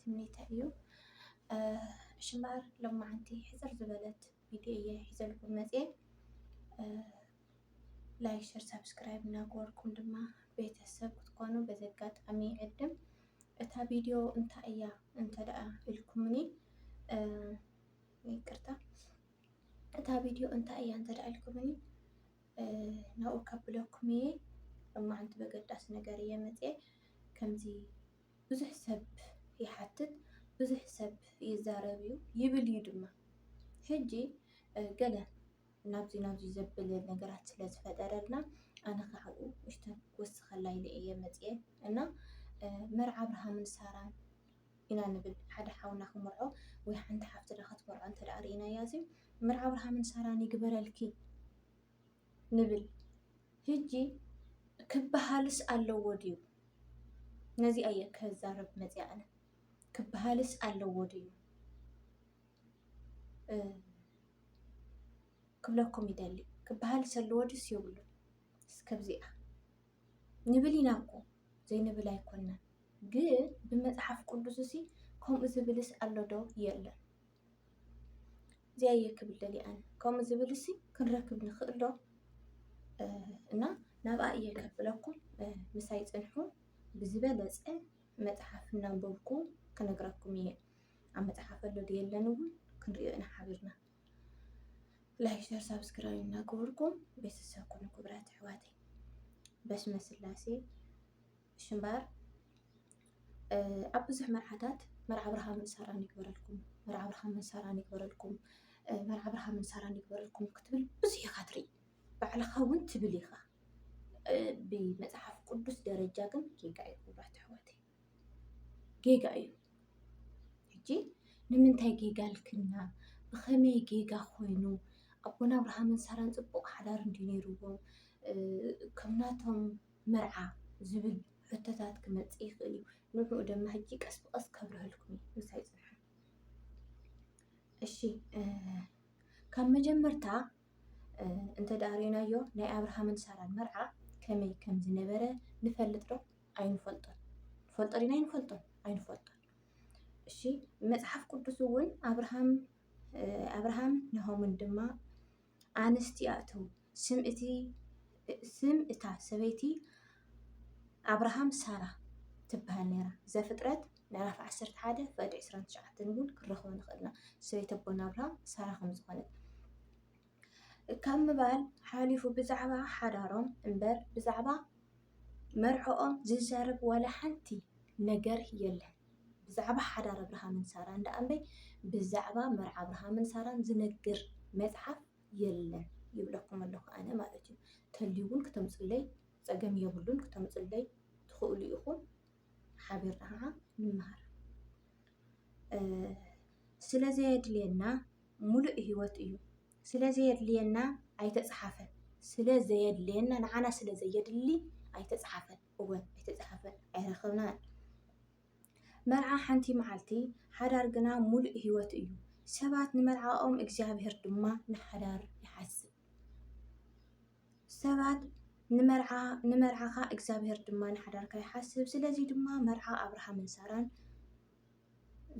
ትምኒተይ እዩ እሺ እምበኣር ሎማዓንቲ ሕፅር ዝበለት ቪድዮ እየ ሒዘልኩም መፅየ ላይክ ሸር ሳብስክራይብ እናገበርኩም ድማ ቤተሰብ ክትኮኑ በዚ ኣጋጣሚ ይዕድም እታ ቪድዮ እንታይ እያ እንተደኣ ኢልኩምኒ ይቅርታ እታ ቪድዮ እንታይ እያ እንተደኣ ኢልኩምኒ ናብኡ ከብለኩም እየ ሎማዓንቲ በገዳሲ ነገር እየ መፅየ ከምዚ ብዙሕ ሰብ ይሓትት፣ ብዙሕ ሰብ ይዛረብ እዩ፣ ይብል እዩ ድማ። ሕጂ ገለ ናብዚ ናብዚ ዘብል ነገራት ስለ ዝፈጠረልና ኣነ ካብኡ ንእሽተን ክውስኸላ ኢለ እየ መፂኤ እና መርዓ ኣብርሃምን ሳራን ኢና ንብል ሓደ ሓውና ክምርዖ ወይ ሓንቲ ሓፍትና ክትምርዖ እንተደኣ ርኢናያ እዚ መርዓ ኣብርሃምን ሳራን ይግበረልኪ። ንብል ህጂ ክበሃልስ ኣለዎ ድዩ ነዚ ኣየ ከዛርብ መፅኣ ኣነ ክበሃልስ ኣለዎ ድዩ ክብለኩም ይደሊ ክበሃልስ ኣለዎ ድዩስ የብሉ እስከብዚኣ ንብል ኢና እኮ ዘይንብል ኣይኮናን ግን ብመፅሓፍ ቅዱስ እሲ ከምኡ ዝብልስ ኣሎ ዶ የለን እዚኣ እየ ክብል ደልየ ኣነ ከምኡ ዝብል ሲ ክንረክብ ንኽእል ዶ እና ናብኣ እየ ከብለኩም ምሳይ ፅንሑ ብዝበለፀ መፅሓፍ እናንበብኩ ክነግራኩም እየ ኣብ መፅሓፍ ኣሎ ድየለን እውን ክንሪኦ ኢና ሓቢርና ላይክ ሸር ሳብስክራይብ እናገበርኩም ቤተሰብ ኩኑ ክብራት ኣሕዋተይ በስመ ስላሴ ሽምባር ኣብ ብዙሕ መርዓታት መርዓ ብርሃምን ሳራን ይግበረልኩም፣ መርዓ ብርሃምን ሳራን ይግበረልኩም፣ መርዓ ብርሃምን ሳራን ይግበረልኩም ክትብል ብዙሕ ኢኻ ትርኢ። ባዕልኻ እውን ትብል ኢኻ። ብመፅሓፍ ቅዱስ ደረጃ ግን ጌጋ እዩ ክቡራት ኣሕዋተይ፣ ጌጋ እዩ። ሕጂ ንምንታይ ጌጋ ልክና ብኸመይ ጌጋ ኮይኑ ኣቦና ኣብርሃምን ሳራን ፅቡቕ ሓዳር እንዲ ነይሩዎም ከምናቶም መርዓ? ዝብል ሕቶታት ክመጽእ ይኽእል እዩ። ንዕኡ ደማ ሕጂ ቀስ ብቐስ ከብርሀልኩም እየ። ምሳይ ጽንሑ። እሺ ካብ መጀመርታ እንተ ደኣ ርኢናዮ ናይ ኣብርሃምን ሳራን መርዓ ከመይ ከም ዝነበረ ንፈልጥ ዶ? ኣይንፈልጦን። ንፈልጦ ዲና ኣይንፈልጦን? ኣይንፈልጦን። እሺ መጽሓፍ ቅዱስ እውን ኣብርሃም ኣብርሃም ናሆምን ድማ ኣንስቲ ኣእትዉ። ስም እታ ሰበይቲ ኣብርሃም ሳራ ትበሃል ነይራ። ዘፍጥረት ምዕራፍ ዓሰርተ ሓደ ፍቕዲ ዕስራን ትሽዓተን እውን ክንረኽቦ ንኽእል ኢና ሰበይቲ ኣቦና ኣብርሃም ሳራ ከም ዝኾነት። ካብ ምባል ሓሊፉ ብዛዕባ ሓዳሮም እምበር ብዛዕባ መርዕኦም ዝዛረብ ዋላ ሓንቲ ነገር የለን። ብዛዕባ ሓዳር ኣብርሃምን ሳራን ደኣ እምበይ ብዛዕባ መርዓ ኣብርሃምን ሳራን ዝነግር መጽሓፍ የለን ይብለኩም ኣለኩ ኣነ ማለት እዩ ተልዩ ውን ክተምጹለይ ጸገም የብሉን ክተምጹለይ ትክእሉ ኢኩም ሓቢርና ከኣ ንመሃር ስለ ዘየድልየና ሙሉእ ህይወት እዩ ስለ ዘየድልየና ኣይተጽሓፈን ስለ ዘየድልየና ንዓና ስለ ዘየድሊ ኣይተጽሓፈን እውን ኣይተጻሕፈን ኣይረኸብናን። መርዓ ሓንቲ መዓልቲ፣ ሓዳር ግና ምሉእ ህይወት እዩ። ሰባት ንመርዓኦም እግዚኣብሔር ድማ ንሓዳር ይሓስብ። ሰባት ንመርዓ ንመርዓኻ እግዚኣብሔር ድማ ንሓዳርካ ይሓስብ። ስለዚ ድማ መርዓ ኣብርሃምን ሳራን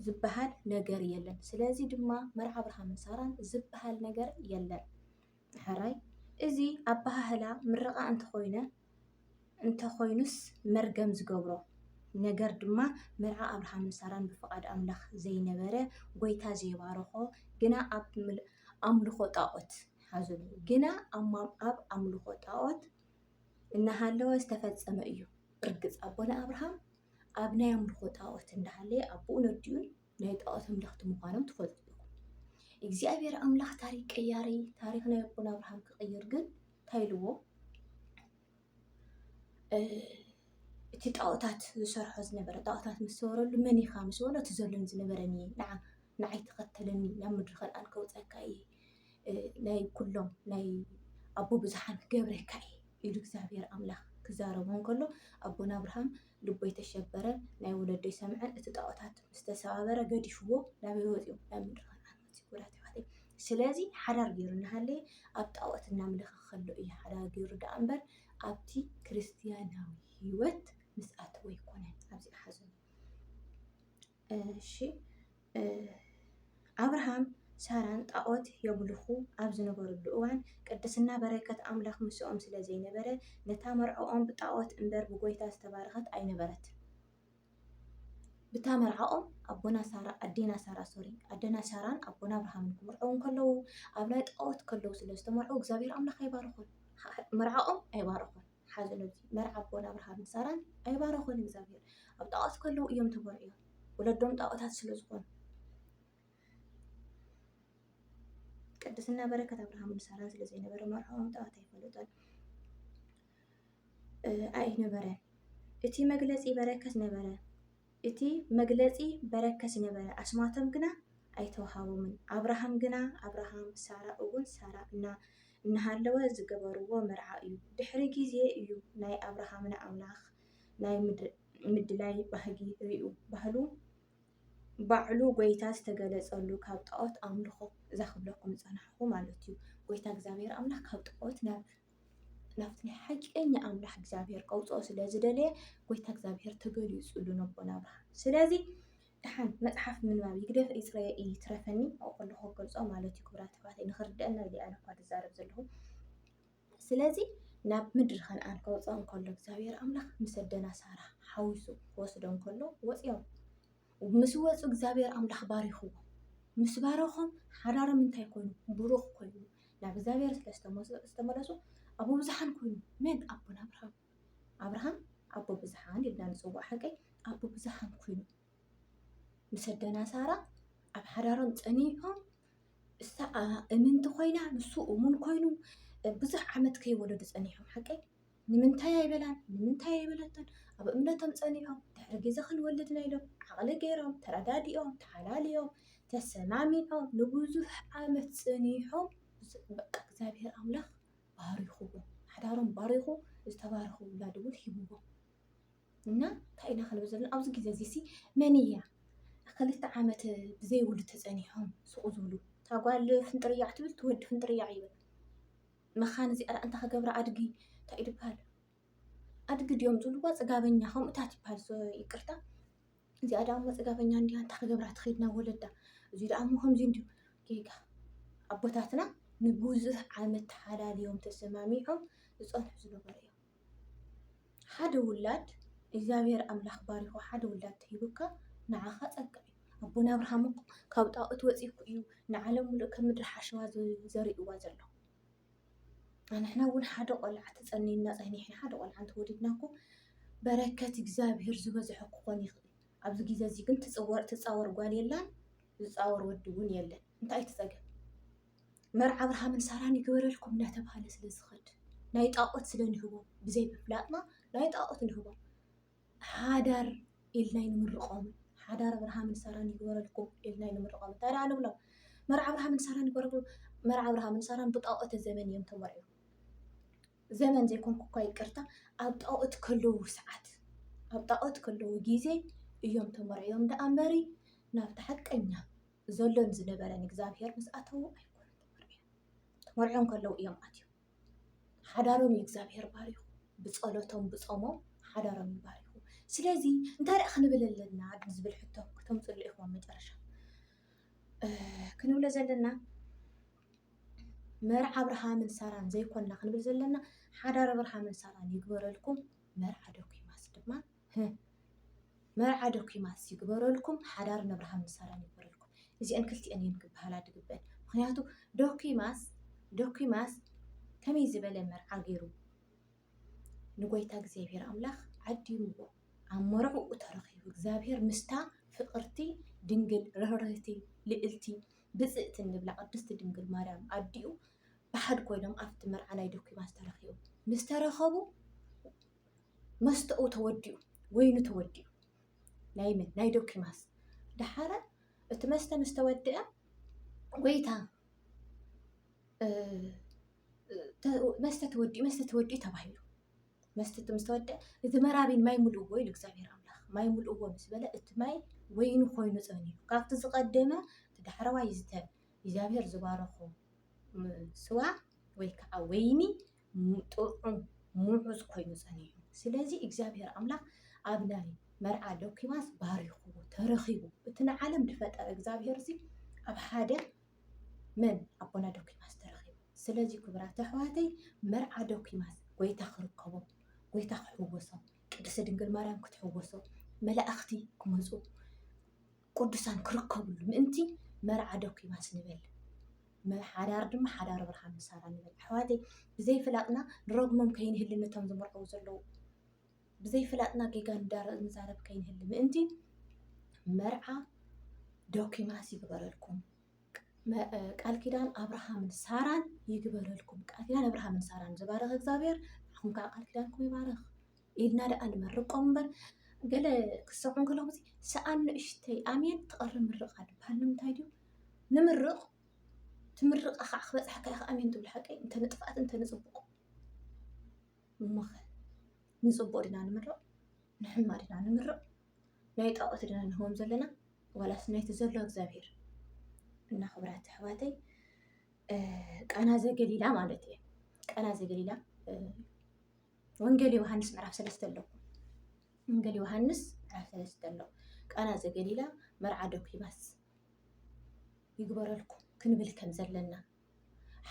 ዝበሃል ነገር የለን። ስለዚ ድማ መርዓ ኣብርሃምን ሳራን ዝበሃል ነገር የለን። ሐራይ እዚ ኣበሃህላ ምርቓ እንተኾይነ እንተኾይኑስ መርገም ዝገብሮ ነገር ድማ መርዓ ኣብርሃምን ሳራን ብፍቓድ ኣምላኽ ዘይነበረ ጎይታ ዘይባረኾ ግና ኣብ ኣምልኾ ጣኦት ሓዙኒ ግና ኣብ ኣምልኾ ጣኦት እናሃለወ ዝተፈጸመ እዩ። ርግጽ ኣቦና ኣብርሃም ኣብ ናይ ኣምልኾ ጣኦት እንዳሃለየ ኣቡኡን ኣዲኡን ናይ ጣኦት ኣምለኽቲ ምዃኖም ትፈልጡ ዲኹም? እግዚኣብሄር ኣምላኽ ታሪክ ቀያሪ ታሪክ ናይ ኣቦና ኣብርሃም ክቅይር ግን እንታይ ኢልዎ እቲ ጣኦታት ዝሰርሖ ዝነበረ ጣኦታት ምስ ሰወረሉ መን ኢኻ ምስ በሎ እቲ ዘሎኒ ዝነበረኒ ንዓ ንዓይ ተኸተለኒ ናብ ምድሪ ከነኣን ከውፀካ እየ ናይ ኩሎም ናይ ኣቦ ብዙሓን ክገብረካ እየ ኢሉ እግዚኣብሄር ኣምላኽ ክዛረቦ እንከሎ ኣቦና ኣብርሃም ልቦይ ተሸበረ፣ ናይ ወለዶይ ሰምዐ፣ እቲ ጣኦታት ምስ ተሰባበረ ገዲፍዎ ናበይ ወፂኡ? ናብ ምድረ ከነኣን ወፂኡ። ውዳት ኣሕዋተይ ስለዚ ሓዳር ገይሩ እናሃለየ ኣብ ጣኦት እናምለኸ ከሎ እዩ ሓዳር ገይሩ ደኣ እምበር ኣብቲ ክርስትያናዊ ህይወት ምስ ኣተወ ኣይኮነን። ኣብዚኣ ሓዙኒ። እሺ ኣብርሃም ሳራን ጣዖት የምልኹ ኣብ ዝነበርሉ እዋን ቅድስና በረከት ኣምላኽ ምስኦም ስለ ዘይነበረ ነታ መርዕኦም ብጣዖት እምበር ብጎይታ ዝተባረኸት ኣይነበረትን። ብታ መርዓኦም ኣቦና ሳራ ኣዴና ሳራ ሶሪ ኣደና ሳራን ኣቦና ኣብርሃምን ክምርዐው ከለዉ ኣብ ናይ ጣዖት ከለዉ ስለ ዝተመርዑ እግዚኣብሔር ኣምላኽ ኣይባረኾን መርዓኦም ኣይባረኾን። ሓዘኖም እዚ መርዓ ኣቦን ኣብርሃምን ሳራን ኣይባረኾን እግዚኣብሔር ኣብ ጣዖት ከለዉ እዮም ተመርዕዮም ወለዶም ጣዖታት ስለ ዝኾኑ ቅድስና በረከት ኣብርሃምን ሳራን ስለ ዘይነበረ መርዕኦም ጣዖት ኣይፈለጦን ኣይነበረን እቲ መግለፂ በረከት ነበረ እቲ መግለጺ በረከት ነበረ፣ ኣስማቶም ግና ኣይተውሃቦምን። ኣብርሃም ግና ኣብርሃም፣ ሳራ እውን ሳራ እና እናሃለወ ዝገበርዎ መርዓ እዩ። ድሕሪ ጊዜ እዩ ናይ ኣብርሃምና ኣምላኽ ናይ ምድላይ ባህጊ ሪኡ ባህሉ ባዕሉ ጎይታ ዝተገለጸሉ ካብ ጣኦት ኣምልኾ ዛክብለኩም ዝጸናሕኹ ማለት እዩ። ጎይታ እግዚኣብሔር ኣምላኽ ካብ ጣኦት ናብ ናብቲ ናይ ሓቀኛ ኣምላኽ እግዚኣብሔር ከውፅኦ ስለ ዝደለየ ጎይታ እግዚኣብሔር ተገሊፁሉ ነቦና ኣብርሃም ስለዚ ድሓን መፅሓፍ ምንባብ ይግደፍ ይፅረየ ይትረፈኒ ኣብኡ ከለኹ ክገልፆ ማለት እዩ ክብራት ኣሕዋተይ ንኽርድአና ኢለ ኣነ እኳ ዝዛረብ ዘለኹ ስለዚ ናብ ምድሪ ከነኣን ከውፅኦ እንከሎ እግዚኣብሔር ኣምላኽ ምስ ኣደና ሳራ ሓዊሱ ክወስዶ እንከሎ ወፂኦም ምስ ወጹ እግዚኣብሔር ኣምላኽ ባሪኽዎም። ምስ ባረኾም ሓዳሮም እንታይ ኮይኑ ብሩኽ ኮይኑ ናብ እግዚኣብሔር ስለ ዝተመለሱ ኣቦ ብዙሓን ኮይኑ። መን ኣቦና ኣብርሃም ኣብርሃም ኣቦ ብዙሓን ኢልና ንጽውዖ ሓቀይ ኣቦ ብዙሓን ኮይኑ ምስ ኣደና ሳራ ኣብ ሓዳሮም ጸኒዖም እሳ እምንቲ ኮይና ንሱ እሙን ኮይኑ ብዙሕ ዓመት ከይወለዱ ጸኒሖም ሓቀይ ንምንታይ ኣይበላን ንምንታይ ኣይበለቶን ኣብ እምነቶም ጸኒዖም ድሕሪ ግዜ ክንወልድ ኢና ኢሎም ዓቕሊ ገይሮም ተረዳዲኦም ተሓላልዮም ተሰማሚዖም ንብዙሕ ዓመት ጸኒሖም በቃ እግዚኣብሔር ኣምላኽ ባሪኹዎም ሓዳሮም ባሪኹ ዝተባረኹ ውላድ እውን ሂቡዎም እና እንታይ ኢና ክንብል ዘለና ኣብዚ ግዜ እዚ ሲ መን እያ ክልተ ዓመት ብዘይውሉ ተጸኒሖም ስቑ ዝብሉ እታ ጓል ፍንጥርያዕ ትብል ትወዲ ፍንጥርያዕ ይብል መኻን እዚኣ እንታይ ክገብራ ኣድጊ እንታይ እዩ ዝበሃል ኣድጊ ድዮም ዝብልዋ ፅጋበኛ ከምኡታት ይበሃል ይቅርታ እዚኣ ደኣ እሞ ፅጋበኛ እንዲያ እንታይ ክገብራ ትኸይድ ናብ ወለዳ እዚ ደኣ እሞ ከምዚ እንዲዩ ጌጋ ኣቦታትና ንብዙሕ ዓመት ተሓላልዮም ተሰማሚዖም ዝፀንሑ ዝነበሩ እዮም ሓደ ውላድ እግዚኣብሔር ኣምላክ ባሪኩ ሓደ ውላድ እንተሂቡካ ንዓካ ጸጋ እዩ። ኣቦና ኣብርሃም እኮ ካብ ጣኦት ወጺእኩ እዩ ንዓለም ምሉእ ከም ምድሪ ሓሸዋ ዘሪእዋ ዘሎ። ኣንሕና እውን ሓደ ቆልዓ ተጸኒና ጸኒሕና ሓደ ቆልዓ እንተወሊድና እኮ በረከት እግዚኣብሔር ዝበዝሖ ክኾን ይኽእል። ኣብዚ ግዜ እዚ ግን ትጽወር ትጻወር ጓል የላን ዝጻወር ወዲ እውን የለን። እንታይ እዩ እቲ ጸገም? መርዓ ኣብርሃምን ሳራን ይግበረልኩም እናተባህለ ስለ ዝኸድ ናይ ጣዖት ስለ ንህቦም ብዘይ ምፍላጥና ናይ ጣዖት ንህቦም ሓዳር ኢልና ይንምርቆም ሓዳር ኣብርሃምን ሳራን ይግበረልኩም ኢልና ይንምርቆም እንታይ ደኣ ንብሎም መርዓ ኣብርሃምን ሳራን ይግበረልኩም መርዓ ኣብርሃምን ሳራን ብጣዖት ዘበን እዮም ተመርዕዮም ዘመን ዘይኮንኩ እኳ ይቅርታ ኣብ ጣዖት ከለዉ ሰዓት ኣብ ጣዖት ከለዉ ግዜ እዮም ተመርዕዮም ደኣ እምበሪ ናብቲ ሓቀኛ ዘሎን ዝነበረን እግዚኣብሄር ምስ ኣተዉ ኣይኮኑን ተመርዕዮም። ተመርዕዮም ከለዉ እዮም ኣትዮም። ሓዳሮም እዩ እግዚኣብሄር ባሪኹ። ብጸሎቶም ብጾሞም ሓዳሮም እዩ ባሪኹ። ስለዚ እንታይ ደኣ ክንብል ኣለና ዝብል ሕቶ ክተምፅሉ ኢኹም ኣብ መጨረሻ ክንብሎ ዘለና መርዓ ኣብርሃምን ሳራን ዘይኮና ክንብል ዘለና ሓዳር ኣብርሃምን ሳራን ይግበረልኩም መርዓ ዶኪማስ ድማ ህህ መርዓ ዶኪማስ ይግበረልኩም ሓዳር ነብርሃም ንሳራን ይግበረልኩም እዚኤን ክልቲኤን እየን ክበሃላ ድግበእን ምክንያቱ ዶኪማስ ዶኪማስ ከመይ ዝበለ መርዓ ገይሩ ንጎይታ እግዚኣብሔር ኣምላክ ዓዲምዎ ኣብ መርዕኡ ተረኪቡ እግዚኣብሔር ምስታ ፍቅርቲ ድንግል ርህርህቲ ልእልቲ ብፅእቲ እንብላ ቅድስቲ ድንግል ማርያም ኣዲኡ ብሓድ ኮይኖም ኣብቲ መርዓ ናይ ዶኪማስ ተረኪቡ ምስ ተረከቡ መስተኡ ተወዲኡ ወይኑ ተወዲኡ ናይ መን ናይ ዶኪማስ ደሓረ እቲ መስተ ምስ ተወድአ ጎይታ መስተ ተወዲኡ መስተ ተወዲኡ ተባሂሉ መስተ ምስ ተወድአ እዚ መራቢን ማይ ምልእዎ ኢሉ እግዚኣብሔር ኣምላኽ ማይ ምልእዎ ምስ በለ እቲ ማይ ወይኑ ኮይኑ ፀኒሑ ካብቲ ዝቐደመ እቲ ዳሕረዋይ ዝተ እግዚኣብሔር ዝባረኾ ስዋ ወይ ከዓ ወይኒ ጥዑም ምዑዝ ኮይኑ ጸኒሑ ስለዚ እግዚኣብሔር ኣምላኽ ኣብ ናይ መርዓ ዶኪማስ ባሪኽዎ ተረኺቡ እቲ ንዓለም ድፈጠረ እግዚኣብሔር እዚ ኣብ ሓደ መን ኣቦና ዶኪማስ ተረኺቡ ስለዚ ክብራት ኣሕዋተይ መርዓ ዶኪማስ ጎይታ ክርከቦ ጎይታ ክሕወሶ ቅድስት ድንግል ማርያም ክትሕወሶ መላእኽቲ ክመጹ ቅዱሳን ክርከብሉ ምእንቲ መርዓ ደኩማስ ንበል ሓዳር ድማ ሓዳር ብርሃን ምሳራ ንበል ኣሕዋተይ ብዘይፍላጥና ንረግሞም ከይንህሊ ነቶም ዝምርዐው ዘለዉ ብዘይፍላጥና ጌጋ ንዛረብ ከይንህሊ ምእንቲ መርዓ ዶኪማስ ይግበረልኩም ቃል ኪዳን ኣብርሃምን ሳራን ይግበረልኩም ቃል ኪዳን ኣብርሃምን ሳራን ዝባረኽ እግዚኣብሔር ንኹም ከዓ ቃል ኪዳንኩም ይባረኽ ኢልና ደኣ ንመርቆም እምበር ገለ ክሰምዑ ከለኹ ሰኣን ንእሽተይ ኣሜን ትቐሪ ምርቓ ድበሃል ንምንታይ ድዩ ንምርቕ ትምርቓ ከዓ ክበፅሓካ ኢኻ ኣሜን ትብል ሓቀይ እንተ ንጥፍኣት እንተ ንፅቡቕ እሞኸ ንፅቡቕ ድና ንምርቕ ንሕማ ድና ንምርቕ ናይ ጣዖት ድና ንህቦም ዘለና ዋላስ ናይቲ ዘሎ እግዚኣብሄር እና ክብራት ኣሕዋተይ ቃና ዘገሊላ ማለት እየ ቃና ዘገሊላ ወንጌል ዮሃንስ ምዕራፍ ሰለስተ ኣሎ ወንጌል ዮሃንስ ምዕራፍ ሰለስተ ኣሎ ቃና ዘገሊላ መርዓ ዶኪማስ ይግበረልኩም ክንብል ከም ዘለና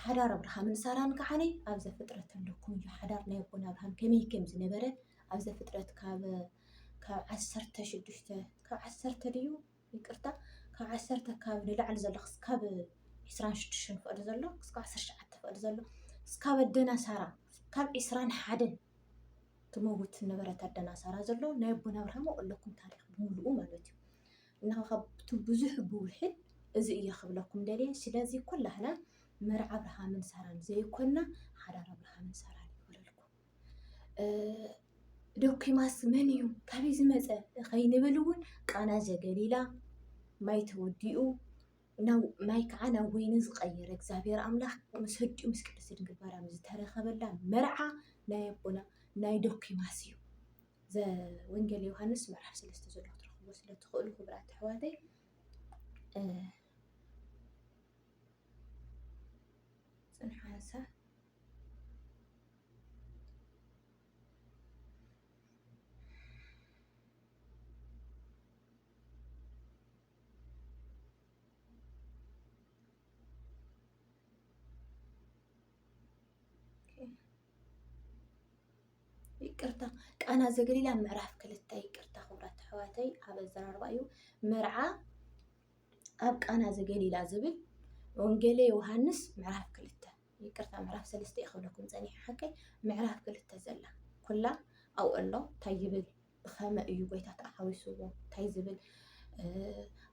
ሓዳር ኣብርሃምን ሳራን ከዓኒ ኣብ ዘፍጥረት ኣለኩም እዩ ሓዳር ናይ ኣቦና ኣብርሃም ከመይ ከም ዝነበረ ኣብ ዘፍጥረት ካብ ካብ ዓሰርተ ሽዱሽተ ካብ ዓሰርተ ድዩ ይቅርታ ካብ ዓሰርተ ኣከባቢ ንላዕሊ ዘሎ ክስካብ ዕስራን ሽዱሽተን ፍቅዲ ዘሎ ክስካብ ዓሰርተ ትሽዓተ ፍቅዲ ዘሎ ክስካብ ኣደና ሳራ ካብ ዕስራን ሓደን ትመውት ዝነበረት ኣደና ሳራ ዘሎ ናይ ኣቦና ኣብርሃም ኣብለኩም ታሪክ ብምልኡ ማለት እዩ እና ካብቲ ብዙሕ ብውሕድ እዚ እየ ክብለኩም ደልየ ስለዚ ኩላህና መርዓ ኣብርሃምን ሳራን ዘይኮና ሓዳር ኣብርሃምን ሳራን ይበለልኩም ዶኪማስ መን እዩ ካበይ ዝመፀ ከይንብል እውን ቃና ዘገሊላ ማይ ተወዲኡ ማይ ከዓ ናብ ወይኒ ዝቀየረ እግዚኣብሔር ኣምላክ ምስ ኣዲኡ ምስ ቅድስት ድንግል ማርያም ዝተረከበላ መርዓ ናይ ኣቦና ናይ ዶኪማስ እዩ። ዘወንጌል ዮሃንስ ምዕራፍ ሰለስተ ዘሎ ክትረክብዎ ስለ እትክእሉ ክቡራት ኣሕዋተይ ፅንሓ ሓሳብ ይቅርታ ቃና ዘገሊላ ምዕራፍ ክልተ ይቅርታ ክብራት ኣሕዋተይ ኣብ ኣዘራርባ እዩ መርዓ ኣብ ቃና ዘገሊላ ዝብል ወንጌለ ዮሃንስ ምዕራፍ ክልተ ይቅርታ ምዕራፍ ሰለስተ እየ ክብለኩም ፀኒሐ ሓቀይ ምዕራፍ ክልተ ዘላ ኩላ ኣብኡ ኣሎ እንታይ ይብል ብኸመ እዩ ጎይታ ተሓዊስዎ እንታይ ዝብል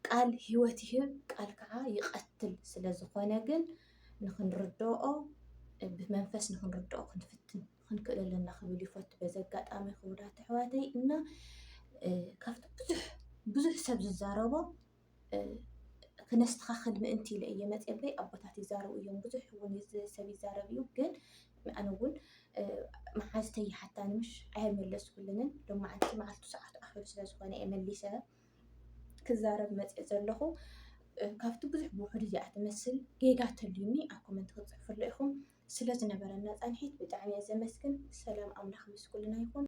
ቃል ህይወት ይህብ ቃል ከዓ ይቐትል ስለ ዝኾነ ግን ንክንርድኦ ብመንፈስ ንክንርድኦ ክንፍትን ክንክእል ኣለና ክብል ይፈቱ በዚ ኣጋጣሚ ክቡራት ኣሕዋተይ እና ካብቲ ብዙሕ ብዙሕ ሰብ ዝዛረቦ ክነስተኻኽል ምእንቲ ኢለ እየ መፂአ እምበይ ኣቦታት ይዛረቡ እዮም ብዙሕ እውን ሰብ ይዛረብ እዩ ግን ኣነ እውን መሓዝተይ ይሓታኒ ምሽ ኣይመለስኩልንን ሎማዓንቲ መዓልቱ ሰዓቱ ኣኺሉ ስለ ዝኾነ እየ መሊሰ ክዛረብ መፅአ ዘለኹ ካብቲ ብዙሕ ብውሕዱ እዚኣ ትመስል ጌጋ ተልዩኒ ኣብ ኮመንት ክትፅሕፍሉ ኢኹም ስለ ዝነበረና ፃንሒት ብጣዕሚ እየ ዘመስግን ሰላም ኣምላኽ ምስ ኩልና ይኹን